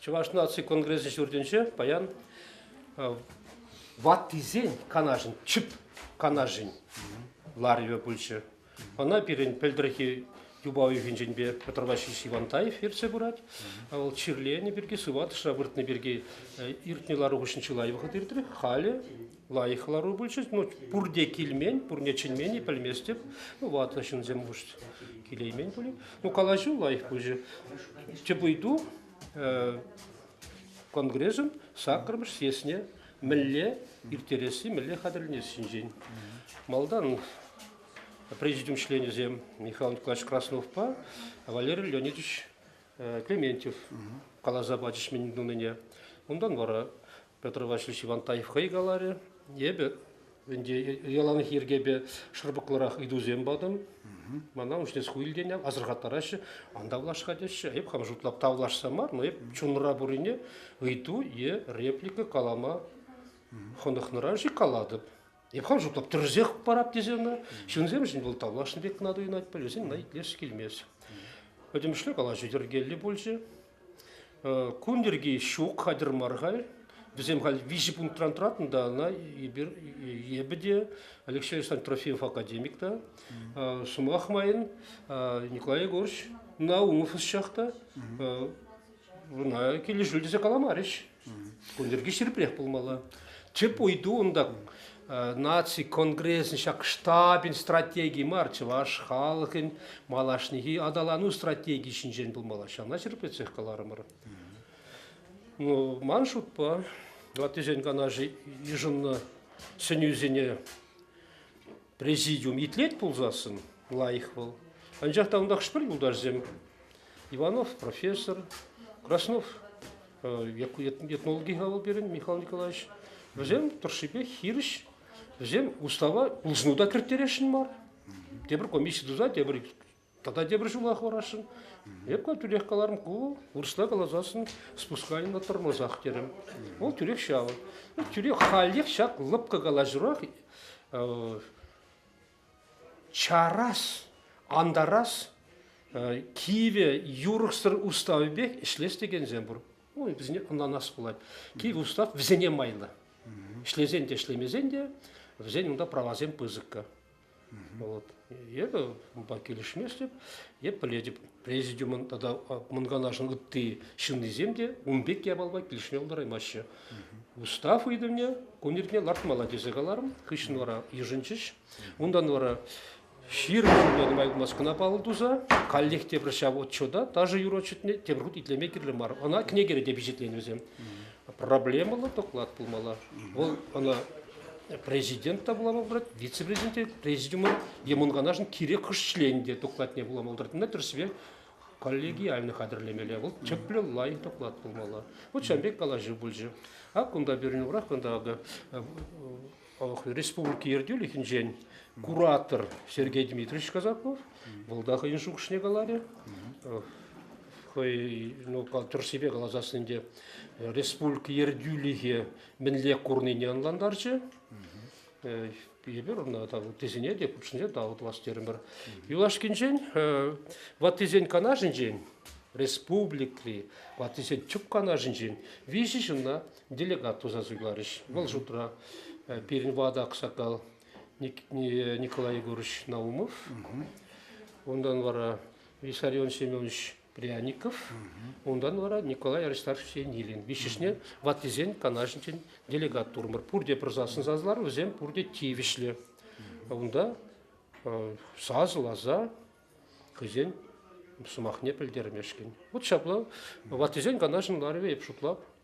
Чӑваш наци конгресӗ ҫуртӗнче паян ваттисен канашӗн, чӳп канашӗн ларӑвӗ пулчӗ. Ӑна пирӗн пӗлтӗрхи юпа уйӑхӗнченпе Петр Васильевич Ивантаев ертсе пырать. Вӑл чирленӗ пирки, сыватӑшра выртнӑ пирки иртнӗ лару хыҫҫӑн чылай вӑхӑт иртрӗ. Халӗ лайӑх лару пулчӗ. Ну, пурте килмен, пурне чӗнмене пӗлместӗп. Ну, ватлӑ ҫынсем хушт килеймен пулин. Ну, калаҫу лайӑх пычӗ. Тӗп ыйту конгресӑн саккӑрмӗш съездне мӗнле ирттересси, мӗнле хатӗрленесси ҫинчен. Малтан президиум членӗсем Михаил Николаевич Красновпа Валерий Леонидович Клементьев каласа пачӗҫ мӗн тунине. Унтан вара Петр Васильевич Ивантаев хӑй каларӗ, эпӗ Ӗнтӗ яланах йӗркепе шӑрпӑклӑрах ыйтусем патӑм. Мана унчне ку илтен асӑрхаттараҫҫӗ, анда влаҫка теҫҫӗ. Эп хам шутлап тавлашса мар, но эп чунра пуррине ыйту е реплика калама хӑнӑхнӑран-ши калатӑп. Эп хам шутлап тӗрсех парап тесе ӑна. Ҫынсемшӗн вӑл тавлашнӑ пек кӑна туйӑнать, пӗлсен мана итлес килмест. Пӗтӗмӗшле калаҫу йӗркеллӗ пулчӗ. Кун йӗрки ҫук, хатӗр мар халь. Вӗсем халь виҫӗ пунктран тӑратӑн та ӑна эпир эпӗ те Алексей Александрович Трофимов академик та сӑмах майӑн Николай Егорович Наумов ӑсчах та вона килӗшӳ тесе каламарӗҫ. Ун йӗрки ҫирӗпрех пулмалла. Тӗп ыйту унта наци конгресӗн ҫак штабӗн стратегии мар, чӑваш халӑхӗн малашнехи аталану стратегийӗ ҫинчен пулмалла. Ҫавна ҫирӗплетсех каларӑмӑр. Ну, ман шутпа, ваттисен канашӗ йышӑннӑ сӗнӳсене Президиум итлет пулсассӑн, лайӑх вӑл. Анчах та унта хӑш-пӗр юлташсем, Иванов профессор, Краснов этнологи хавал пирӗн Михаил Николаевич, вӗсем тӑршшипе хирӗҫ, вӗсем устава улшӑну та кӗрттересшӗн мар. Тепӗр комисси туса, тепӗр Тата тепӗр ҫула хӑварасшӑн. Эпӗ тӳрех каларӑм, ку вырӑсла каласассӑн спусканина тормозах терӗм. Вӑл тӳрех ҫав. Тӳрех халех ҫак лӑпкӑ калаҫурах чарас, антарас кивӗ юрӑхсӑр уставӗпех ӗҫлес текенсем пур. Ну, вӗсене ӑнланас пулать. Кивӗ устав вӗсене майлӑ. Ӗҫлесен те, ӗҫлемесен те вӗсен унта правасем пысӑккӑ. Вот. Эпӗ унпа килӗшместӗп, эп пӗлетӗп, президиумӑн тата Мӑнканашӑн ытти ҫыннисем те ун пек япалпа килӗшме пултараймаҫҫӗ. Устав ыйтӑвне кун иртне лартмалла тесе каларӑм, хыҫҫӑн вара йышӑнчӗҫ. Унтан вара ҫирӗм ҫулта нумай пулмасть кӑна паллӑ туса каллех тепӗр ҫав отчета ташӑ юрӑ отчетне тепӗр хут итлеме кирлӗ мар. Ӑна кӗнекере те пичетленӗ вӗсем. Проблемӑллӑ доклад пулмалла. Вӑл ӑна президент та вулама пулать, вице-президент те, президиумӑн емӑнканашӑн кирек хӑш членӗ те докладне вулама пултаратнина тӗрӗсипе коллегиальный хатӗрлемелле. Вӑл тӗплӗ лайӑх доклад пулмалла. Вот ҫавӑн пек калаҫу пулчӗ. Ак кунта пирӗн урах кунта акӑ республика ертӳлӗхӗнчен куратор Сергей Дмитриевич Казаков, вӑл та хӑйӗн шухӑшне каларӗ. Хӑй ну, тӗрӗссипе каласассин те республика ертӳлӗхӗ мӗнле курнине ӑнлантарчӗ. Эпир ӑна тесене те хутшӑнче тав тӑвас терӗмӗр. Юлашкинчен ваттисен канашӗнчен республикри ваттисен тӗп канашӗнчен виҫӗ ҫынна делегат туса суйларӗҫ. Вӑл шутра пирӗн ватӑ аксакал Николай Егорович Наумов, унтан вара Виссарион Семенович Пряников, унтан вара Николай Аристархович Енилин. Виҫҫӗшне ваттисен канашӗнчен делегат турмӑр. Пурте пырсассӑн сасӑлар, вӗсем пурте тивӗҫлӗ. Унта сасӑласа хӑйсен сӑмахне пӗлтермешкӗн. Вот ҫапла ваттисен канашӗн ларӑвӗ эп шутлап.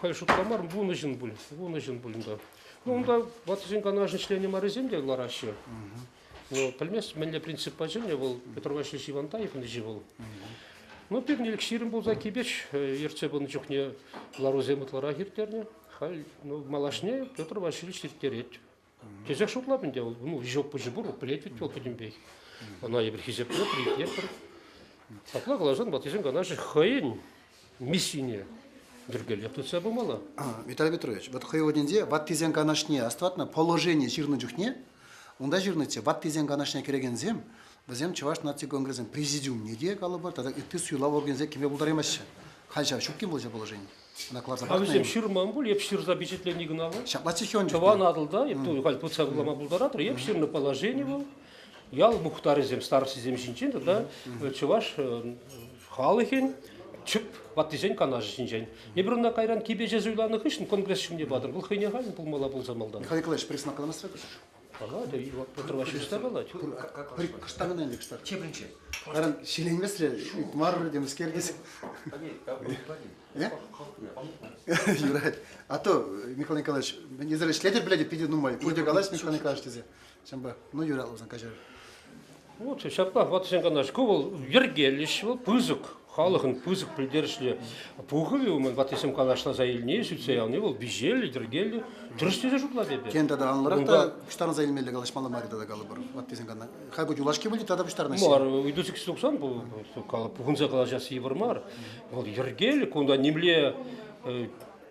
Халь шутла мар, вунӑ ҫын пуль, вунӑ ҫын пуль унта. Ну, унта ваттисен канашӗн членӗ маррисем те лараҫҫӗ. Ну, пӗлмест, мӗнле принциппа чӗннӗ вӑл Петр Васильевич Ивантаевничи вӑл. Ну, пирӗн ҫирӗм пулса кипеч ертсе пынӑ чухне ларусем ытларах ирттернӗ. Халь ну, малашне Петр Васильевич ирттерет. Тесех шутлап ӗнтӗ, вӑл ну, вещок пуҫӗ пур, пӗлет ведь вӑл пӗтӗмпех. Ӑна эпир хисеплӗпӗр, итлетпӗр. Апла каласан ваттисем канашӗ хӑйӗн миссине йӗркеллех тытса пымалла. Виталий Петрович, вот хӑй вырӑнӗнче ваттисен канашне астӑватна положени ҫырнӑ чухне унта ҫырнӑччӗ, ваттисен канашне кӗрекенсем вӗсем Чӑваш наци конгресӗн президиумне те калӑпӑр тата ытти суйлав органӗсене кӗме пултараймаҫҫӗ. Халь ҫав ҫук-им вӑл ҫав положени? накладывать. А вӗсем ҫырман пуль, эп ҫырса пичетлени кӑна вӑл. Ҫапла чехен. Тӑван Атӑлта, эп халь путса кӑларма пултаратӑр, эп ҫырнӑ положени вӑл. Ял мухтарӗсем, старостисем ҫинчен тата чӑваш халӑхӗн чӗп ваттисен канашӗ ҫинчен. Эпир ӑна кайран кипече суйланӑ хыҫҫӑн конгресс ҫумне патӑр. Вӑл хӑйне халь пулмалла пулса малтан. Михаил Николаевич, пресс накладмасрах Паллатӑ, Петр Васильевич тапала. Кӑштах ӑна ӗнтӗ кӑштах. Тепринче. Аран ҫиленмесре марӑр темскер тесе. Юрать. А то, Михаил Николаевич, мен эсир ӗҫлетӗр пӗлетӗп, питӗ нумай. Пурте калаҫ, Михаил Николаевич тесе. Ҫавӑнпа, ну юрал усан каҫар. Лучше ҫапла ватӑсен канаш. Ку вӑл йӗркелӗҫ, вӑл пысӑк, халӑхӑн пысӑк пӗлтерӗшлӗ пухӑвӗ. Унӑн ваттисем канашласа илни, сӳтсе явни вӑл виҫеллӗ, йӗркеллӗ. Дурӑҫ тесе шутлать эпӗ. Тен, тата анлӑрах та пуҫтарӑнса илмелле калаҫмалла мар тата калӑпӑр ваттисен канашлӑва. Хай ку юлашки выльӑх тата пуҫтарӑнаҫҫӗ. Мар, ыйту сикс туксан бу хунса калаҫас йывӑр мар. Вӑл йӗркеллӗ, кунта нимле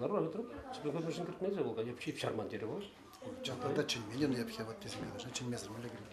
Ларма вӗтреп, тебе хоть машин кӗртмесӗр вӑл, я пчип чарман терӗ вӑл. Чантарта чӗнмелле, но я пхе вот тесе калаша, чӗнмесӗр мӗнле кӗрет.